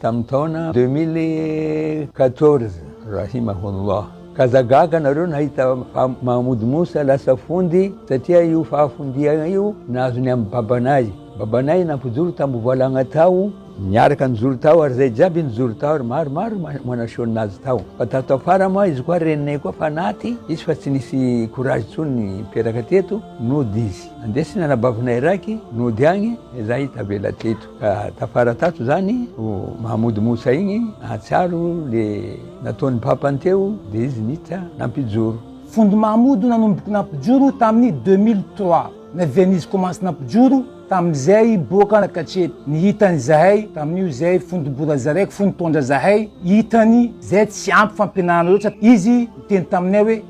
Tamin'ny taona deux mille quatorze, rahimahullah, ka aza gaga nareo nahita fa Mahmoud Moussa lasa fondy satria io fahafondiana io nazony amin'ny babanay. Babanay nampijoro tambovalagna tao, niaraka nijoro tao ary zay jiaby nijoro tao ary maromaro manaseho nazy tao. Fa tato afara moa izy koa reninay koa fanaty izy fa tsy nisy courage tsony niteraka teto nody izy. Nandesina anabavinay raiky nody agny, zay tavela teto. Ka tafara tato zany o Mahamoud Moussa igny hahatsiaro le nataony papany teo de izy nita nampijoro. Fond Mahamoud nanomboky nampijoro taminy deux mille trois na Venise commence nampijoro taminy zay boka nakatreto ny hitany zahay taminio zay fond Bora zaraiko fond taondra zahay hitany zay tsy ampy fampianarana loatra izy niteny taminay hoe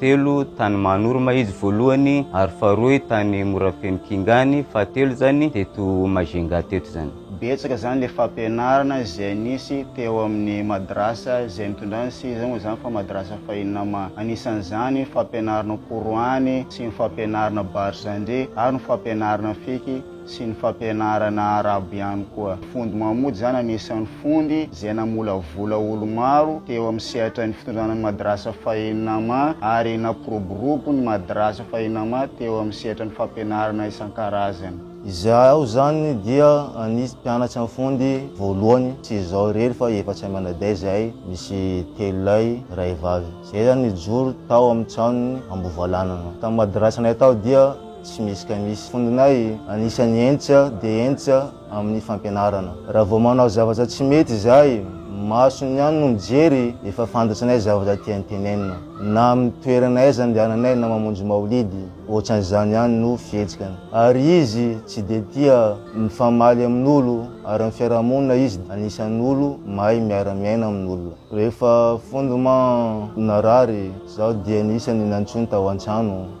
telo tany Mahanorma izy voalohany ary faharoy tany Morafeno Kingany fahatelo izany teto Majunga teto izany. Betsaka izany ilay fampianarana izay nisy teo amin'ny madrasa izay nitondra an'i Siza moa izany fa madrasa fahiny nama. Anisan'izany ny fampianarana Qur'an sy ny fampianarana Barzandri ary ny fampianarana Fiqh. sy ny fampianarana arabo ihany koa. Fondy Mahmoud izany anisan'ny fondy izay namolavola olo-maro teo amin'ny sehatra ny fitondrana ny Madrasa Fahinama ary nampiroborobo ny Madrasa Fahinama teo amin'ny sehatra ny fampianarana isan-karazany. Izaho izany dia anisy mpianatry ny fondy voalohany, tsy izaho irery fa efa tsy aman-dahy izahay misy telo lahy iray vavy izay nijoro tao amin'ny tranon'ny Ambovalanana. Tamin'ny Madrasanay tao dia. tsy misy ka misy. Fondinay, anisan'ny entsa dia entsa amin'ny fampianarana. Raha vao manao zavatra tsy mety izahay, masony ihany no mijery, efa fantatranay zavatra tiany tenenina. Na amin'ny toerana aiza andehananay na mamonjy maolidy, ohatran'izany ihany no fihetsikany. Ary izy tsy dia tia mifamaly amin'olo ary amin'ny fiarahamonina izy dia anisan'olo mahay miara-miaina amin'olona. Rehefa fondement narary, izaho dia ny isany nantsoiny tao an-trano.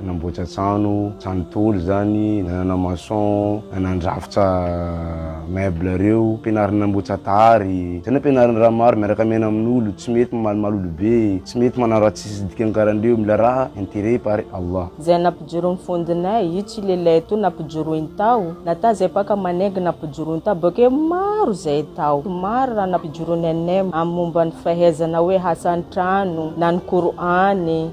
Nanamboatra trano, trano tôly zany, nanana maçon, nanandrafitra meuble reo, ampianariny nanamboatra tary, zay no ampianariny raha maro miaraka miaina amin'olo, tsy mety mamalimaly olo be, tsy mety manao raha tsisy dikany karan-dreo, mila raha intérêt par Allah. Zay nampijoroiny fondinay, io tsy le lait to nampijoroiny tao, na ta zay paka manengy nampijoroiny tao, bakeo maro zay tao, maro raha nampijoroiny anay, am momba ny fahezana hoe hasa an-trano, na ny Qur'an.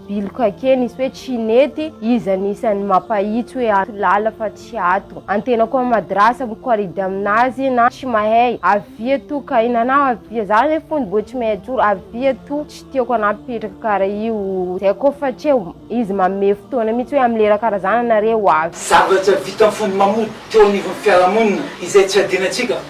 Bilokake nisy hoe tsy nety izy anisan'ny mapahitsy hoe ato lala fa tsy ato antena koa madrasa mikoridy aminazy na tsy mahey avia to kaina anao avia za ne fony bo tsy mey ajoro avia to tsy tiako anao mipetraka kara io zay koa fa tsy eo izy mamehy fotoana mitsy hoe amlera kara zany nareo avy Zavatra vitan'ny fony mamoa teo anivon'ny fiarahamonina izay tsy hadinantsika.